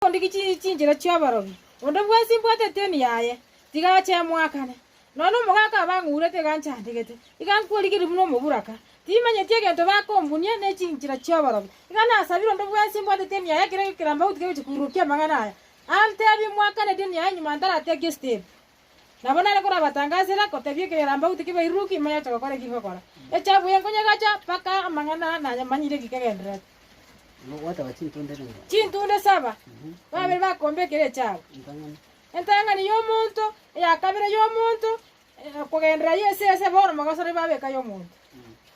Ondigie chi- chinchera chi'abarogi, onde bwensi mbwatete eni yaye, tiga ache emwakane. Nonya omogaka abang'urete iga nchandegete, iga nkwerigerie buna omoburaka. Timanyeti egento bakombunia ne chinchera chi'abarogi. Iga nasabire onde bwensi mbwatete eni yaye ekero gekeramba gotiga gochia koirokia amang'ana aya, anteebie mwakane deni yaye nyuma ntaratiga gesiteri. Nabo nare korabatangasere, gotebia ekegerambauti kebairuruki, ime yoche gokora eki ngokora. Echafu eye nkonyegacha, mpaka amang'ana aa nanyamanyire eki kegendererete. Chintunde saba, babere bakomba ekero echafu. Entang'ani y'omonto, eyakabere y'omonto, kogenderera yese yese, bono mogosore babe eka y'omonto.